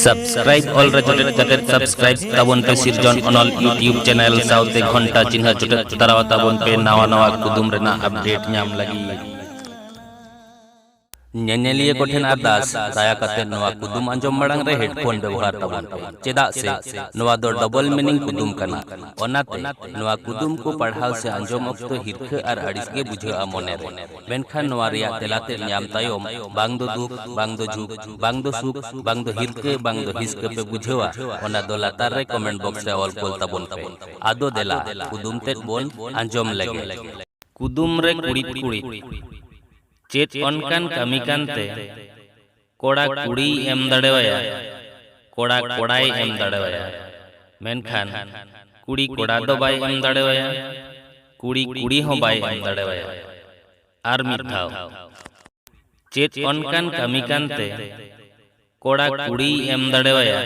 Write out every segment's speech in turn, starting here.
Subscribe ᱚᱞ ᱨᱮ ᱡᱚᱴᱮᱫ ᱠᱟᱛᱮ ᱥᱟᱵᱥᱠᱨᱟᱭᱤᱵ ᱛᱟᱵᱚᱱ ᱯᱮ ᱥᱤᱨᱡᱚᱱ ᱚᱱᱚᱞ ᱭᱩᱴᱤᱭᱩᱵ ᱪᱮᱱᱮᱞ ᱥᱟᱶᱛᱮ ᱜᱷᱚᱱᱴᱟ ᱪᱤᱱᱦᱟᱹ ᱡᱚᱴᱮᱫ ᱛᱟᱨᱟᱣ ᱛᱟᱵᱚᱱ ᱯᱮ ᱱᱟᱣᱟ ᱱᱟᱣᱟ ᱠᱩᱫᱩᱢ ᱨᱮᱱᱟᱜ ᱟᱯᱰᱮᱴ ᱧᱟᱢ ᱞᱟᱹᱜᱤᱫ ᱧᱮᱧᱮᱞᱤᱭᱟᱹ ᱠᱚ ᱴᱷᱮᱱ ᱟᱨᱫᱟᱥ ᱫᱟᱭᱟ ᱠᱟᱛᱮ ᱱᱚᱣᱟ ᱠᱩᱫᱩᱢ ᱟᱸᱡᱚᱢ ᱢᱟᱲᱟᱝ ᱨᱮ ᱦᱮᱰᱯᱷᱳᱱ ᱵᱮᱵᱚᱦᱟᱨ ᱛᱟᱵᱚᱱ ᱯᱮ ᱪᱮᱫᱟᱜ ᱥᱮ ᱱᱚᱣᱟ ᱫᱚ ᱰᱚᱵᱚᱞ ᱢᱤᱱᱤᱝ ᱠᱩᱫᱩᱢ ᱠᱟᱱᱟ ᱚᱱᱟᱛᱮ ᱱᱚᱣᱟ ᱠᱩᱫᱩᱢ ᱠᱚ ᱯᱟᱲᱦᱟᱣ ᱥᱮ ᱟᱸᱡᱚᱢ ᱚᱠᱛᱚ ᱦᱤᱨᱠᱷᱟᱹ ᱟᱨ ᱟᱹᱲᱤᱥ ᱜᱮ ᱵᱩᱡᱷᱟᱹᱜᱼᱟ ᱢᱚᱱᱮ ᱨᱮ ᱢᱮᱱᱠᱷᱟᱱ ᱱᱚᱣᱟ ᱨᱮᱭᱟᱜ ᱛᱮᱞᱟ ᱛᱮᱫ ᱧᱟᱢ ᱛᱟᱭᱚᱢ ᱵᱟᱝ ᱫᱚ ᱫᱩᱠ, ᱵᱟᱝ ᱫᱚ ᱡᱷᱩᱠ, ᱵᱟᱝ ᱫᱚ ᱥᱩᱠ, ᱵᱟᱝ ᱫᱚ ᱦᱤᱨᱠᱟᱹ, ᱵᱟᱝ ᱫᱚ ᱦᱤᱥᱠᱟᱹ ᱯᱮ ᱵᱩᱡᱷᱟᱹᱣᱟ ᱚᱱᱟ ᱫᱚ ᱞᱟᱛᱟᱨ ᱨᱮ ᱠᱚᱢᱮᱱᱴ ᱵᱚᱠᱥ ᱨᱮ ᱚᱞ ᱠᱳᱞ ᱛᱟᱵᱚᱱ ᱯᱮ᱾ ᱟᱫᱚ ᱫᱮᱞᱟ ᱠᱩᱫᱩᱢ ᱛᱮᱫ ᱵᱚᱱ ᱟᱸᱡᱚᱢ ᱞᱮᱜᱮ᱾ ᱠᱩᱫᱩᱢ ᱨᱮ ᱠᱩᱲᱤᱫ ᱠᱩᱲᱤᱫ᱾ ᱪᱮᱫ ᱚᱱᱠᱟᱱ ᱠᱟᱹᱢᱤ ᱠᱟᱱ ᱛᱮ᱾ ᱠᱚᱲᱟ ᱠᱩᱲᱤᱭ ᱮᱢ ᱫᱟᱲᱮᱣᱟᱭᱟ, ᱠᱚᱲᱟ ᱠᱚᱲᱟᱭ ᱮᱢ ᱫᱟᱲᱮᱣᱟᱭᱟ᱾ ᱢᱮᱱᱠᱷᱟᱱ ᱠᱩᱲᱤ ᱠᱚᱲᱟ ᱫᱚ ᱵᱟᱭ ᱮᱢ ᱫᱟᱲᱮᱣᱟᱭᱟ, ᱠᱩᱲᱤ ᱠᱩᱲᱤ ᱦᱚᱸ ᱵᱟᱭ ᱮᱢ ᱫᱟᱲᱮᱣᱟᱭᱟ᱾ ᱟᱨ ᱢᱤᱫ ᱫᱷᱟᱣ᱾ ᱪᱮᱫ ᱚᱱᱠᱟᱱ ᱠᱟᱹᱢᱤ ᱠᱟᱱ ᱛᱮ ᱠᱚᱲᱟ ᱠᱩᱲᱤᱭ ᱮᱢ ᱫᱟᱲᱮᱣᱟᱭᱟ,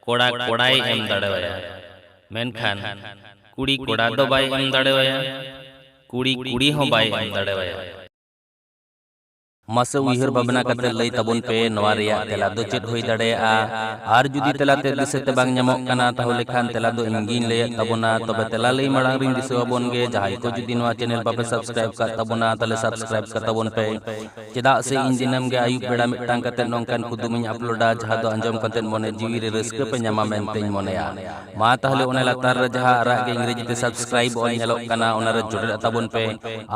ᱠᱚᱲᱟ ᱠᱚᱲᱟᱭ ᱮᱢ ᱫᱟᱲᱮᱣᱟᱭᱟ, ᱢᱮᱱᱠᱷᱟᱱ ᱠᱩᱲᱤ ᱠᱚᱲᱟ ᱫᱚ ᱵᱟᱭ ᱮᱢ ᱫᱟᱲᱮᱣᱟᱭᱟ, ᱠᱩᱲᱤ ᱠᱩᱲᱤ ᱦᱚᱸ ᱵᱟᱭ ᱮᱢ ᱫᱟᱲᱮᱣᱟᱭᱟ᱾ ᱢᱟᱥᱮ ᱩᱭᱦᱟᱹᱨ ᱵᱷᱟᱵᱽᱱᱟ ᱠᱟᱛᱮ ᱞᱟᱹᱭ ᱛᱟᱵᱚᱱ ᱯᱮ ᱱᱚᱣᱟ ᱨᱮᱭᱟᱜ ᱛᱮᱞᱟ ᱫᱚ ᱪᱮᱫ ᱦᱩᱭ ᱫᱟᱲᱮᱭᱟᱜᱼᱟ ᱟᱨ ᱡᱩᱫᱤ ᱛᱮᱞᱟ ᱛᱮ ᱫᱤᱥᱟᱹ ᱛᱮ ᱵᱟᱝ ᱧᱟᱢᱚᱜ ᱠᱟᱱᱟ ᱛᱟᱦᱚᱞᱮ ᱠᱷᱟᱱ ᱛᱮᱞᱟ ᱫᱚ ᱤᱧ ᱜᱤᱧ ᱞᱟᱹᱭᱮᱫ ᱛᱟᱵᱚᱱᱟ ᱛᱚᱵᱮ ᱛᱮᱞᱟ ᱞᱟᱹᱭ ᱢᱟᱲᱟᱝ ᱨᱤᱧ ᱫᱤᱥᱟᱹ ᱟᱵᱚᱱ ᱜᱮ ᱡᱟᱦᱟᱸᱭ ᱠᱚ ᱡᱩᱫᱤ ᱱᱚᱣᱟ ᱪᱮᱱᱮᱞ ᱵᱟᱯᱮ ᱥᱟᱵᱥᱠᱨᱟᱭᱤᱵ ᱠᱟᱜ ᱛᱟᱵᱚᱱᱟ ᱛᱟᱦᱚᱞᱮ ᱥᱟᱵᱥᱠᱨᱟᱭᱤᱵ ᱠᱟᱜ ᱛᱟᱵᱚᱱ ᱯᱮ ᱪᱮᱫᱟᱜ ᱥᱮ ᱤᱧ ᱫᱤᱱᱟᱹᱢ ᱜᱮ ᱟᱹᱭᱩᱵ ᱵᱮᱲᱟ ᱢᱤᱫᱴᱟᱝ ᱠᱟᱛᱮ ᱱᱚᱝᱠᱟᱱ ᱠᱩᱫᱩᱢᱤᱧ ᱟᱯᱞᱳᱰᱟ ᱡᱟᱦᱟᱸ ᱫᱚ ᱟᱸᱡᱚᱢ ᱠᱟᱛᱮ ᱢᱚᱱᱮ ᱡᱤᱣᱤ ᱨᱮ ᱨᱟᱹᱥᱠᱟᱹ ᱯᱮ ᱧᱟᱢᱟ ᱢᱮᱱᱛᱮᱧ ᱢᱚᱱᱮᱭᱟ ᱢᱟ ᱛᱟᱦᱚᱞᱮ ᱚᱱᱟ ᱞᱟᱛᱟᱨ ᱨᱮ ᱡᱟᱦᱟᱸ ᱟᱨᱟᱜ ᱜᱮ ᱤᱝᱨᱮᱡᱤ ᱛᱮ ᱥᱟᱵᱥᱠᱨᱟᱭᱤᱵ ᱚᱞ ᱧᱮᱞᱚᱜ ᱠᱟᱱᱟ ᱚᱱᱟ ᱨᱮ ᱡᱚᱴᱮᱫ ᱛᱟᱵᱚᱱ ᱯᱮ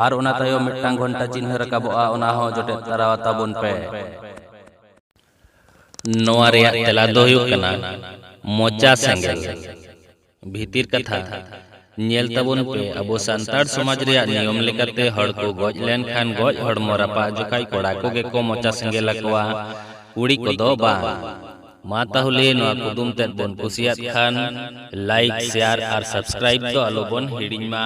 ᱟᱨ ᱚᱱᱟ ᱛᱟᱭᱚᱢ ᱢᱤᱫᱴᱟᱝ ᱜᱷᱚᱱᱴᱟ ᱪᱤᱱᱦᱟᱹ ᱨᱟᱠᱟᱵᱚᱜᱼᱟ ᱚᱱᱟ ᱦᱚᱸ ᱡᱚᱴᱮᱫ ᱛᱟᱨᱟ ᱛᱟᱵᱚᱱ ᱯᱮ ᱱᱚᱣᱟ ᱨᱮᱭᱟᱜ ᱛᱮᱞᱟ ᱫᱚ ᱦᱩᱭᱩᱜ ᱠᱟᱱᱟ ᱢᱚᱪᱟ ᱥᱮᱸᱜᱮᱞ ᱵᱷᱤᱛᱤᱨ ᱠᱟᱛᱷᱟ ᱧᱮᱞ ᱛᱟᱵᱚᱱ ᱯᱮ ᱟᱵᱚ ᱥᱟᱱᱛᱟᱲ ᱥᱚᱢᱟᱡᱽ ᱨᱮᱭᱟᱜ ᱱᱤᱭᱚᱢ ᱞᱮᱠᱟᱛᱮ ᱦᱚᱲ ᱠᱚ ᱜᱚᱡ ᱞᱮᱱᱠᱷᱟᱱ ᱜᱚᱡ ᱦᱚᱲᱢᱚ ᱨᱟᱯᱟᱜ ᱡᱚᱠᱷᱟᱡ ᱠᱚᱲᱟ ᱠᱚᱜᱮ ᱠᱚ ᱢᱚᱪᱟ ᱥᱮᱸᱜᱮᱞ ᱟᱠᱚᱣᱟ ᱠᱩᱲᱤ ᱠᱚᱫᱚ ᱵᱟᱝ᱾ ᱢᱟ ᱛᱟᱦᱚᱞᱮ ᱱᱚᱣᱟ ᱠᱩᱫᱩᱢ ᱛᱮᱫ ᱵᱚᱱ ᱠᱩᱥᱤᱭᱟᱫ ᱠᱷᱟᱱ ᱞᱟᱭᱤᱠ, ᱥᱮᱭᱟᱨ ᱟᱨ ᱥᱟᱵᱥᱠᱨᱟᱭᱤᱵ ᱫᱚ ᱟᱞᱚ ᱵᱚᱱ ᱦᱤᱲᱤᱧ ᱢᱟ᱾